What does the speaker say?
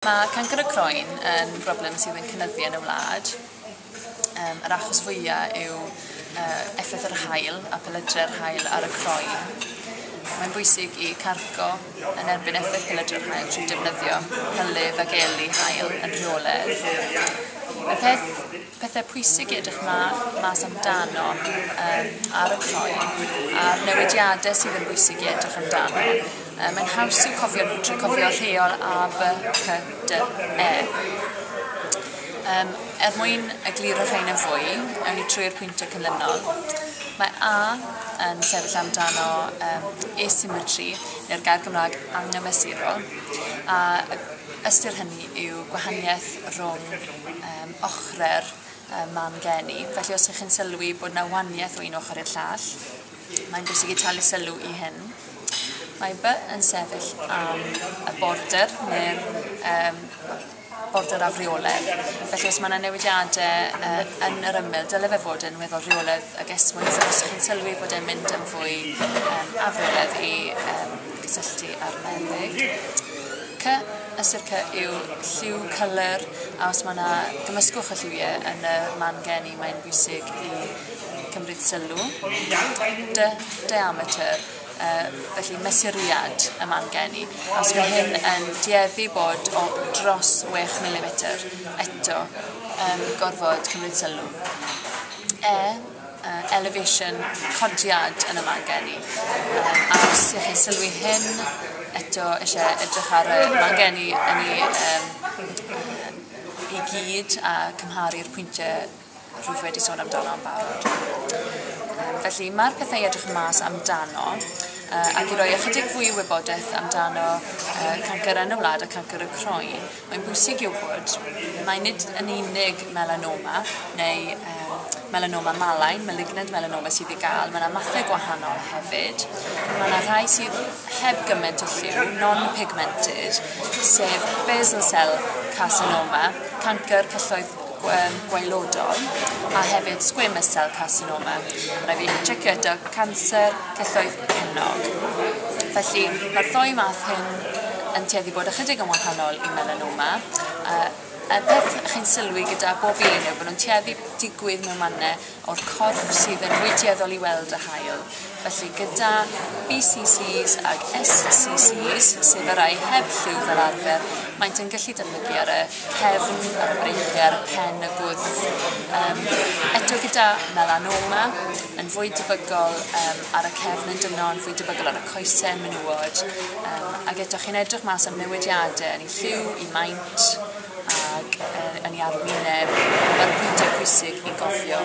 Mae cancr y croen yn broblem sydd yn cynyddu yn y wlad. Um, yr achos fwyaf yw uh, effaith yr hael a pelydre'r hael ar y croen. Mae'n bwysig i cargo yn erbyn effaith pelydre'r hael trwy defnyddio hylif ac eli hael yn rheoledd. Y peth Pethau pwysig i edrych ma, mas amdano um, ar y croen a'r newidiadau sydd yn bwysig i edrych amdano. Um, mae'n haws i'w cofio nhw trwy cofio rheol A, B, C, D, E. Um, er mwyn egluro rhain yn fwy, ewn ni trwy'r pwyntiau cynlynol. Mae A yn sefyll amdano um, asymmetry, neu'r gair Gymraeg anghymesurol, a ystyr hynny yw gwahaniaeth rhwng um, ochre'r man geni. Felly os ych chi'n sylwi bod yna waniaeth o un ochr i'r llall, mae'n bwysig i talu sylw i hyn. Mae by yn sefyll am y border neu'r um, border afreoledd. Felly os mae yna newidiadau uh, yn yr ymyl, dyle fe fod yn weddol rheoledd ag esmwyth os ydych chi'n sylwi bod e'n mynd yn fwy um, afreoledd i um, cysylltu â'r meddyg. C Y sirca yw lliw cyler a os mae yna gymysgwch o lliwie yn y man geni mae'n bwysig i cymryd sylw. Dy, diameter, uh, felly mesuriad y man geni. A os mae hyn yn dueddu bod o dros 6 mm, eto um, gorfod cymryd sylw. E, elevation, codiad yn y man gen i yym a os y'ch chi'n sylwi hyn eto isie edrych ar y man gen i yn i yym yym i gyd a cymharu'r pwyntie rwyf wedi sôn amdano yn barod. Yym felly ma'r pethe i edrych mas amdano yy ac i roi ychydig fwy o wybodeth amdano yy cancer yn y wlad y cancer y croen Mae'n bwysig i'w bod mai nid yn unig melanoma neu melanoma malign, malignant melanoma, sydd i gael, mae yna mathau gwahanol hefyd. Mae yna rhai sydd heb gymaint o lliw, non-pigmented, sef basal cell carcinoma, cancr celloedd gwaelodol a hefyd squamous cell carcinoma. Mae fi checio eto canser celloedd cenog. Felly mae'r ddoi math hyn yn tueddu bod ychydig yn wahanol i melanoma. Uh, y peth chi'n sylwi gyda bob un yw bod nhw'n tueddu digwydd mewn mannau o'r corff sydd yn wydueddol i weld y haul, felly gyda BCCs ag SCCs, sef y rai heb lliw fel arfer, maent yn gallu dyfygu ar y cefn, ar y breichiau, ar y pen, y gwddf. Um, eto gyda melanoma, yn fwy debygol um, ar y cefn yn dyno, yn fwy debygol ar y coesau, menywod, um, ac eto chi'n edrych mas am newidiadau yn ei lliw, i maint, ac yn ei arwyneb, mae'r pwyntiau pwysig i gofio.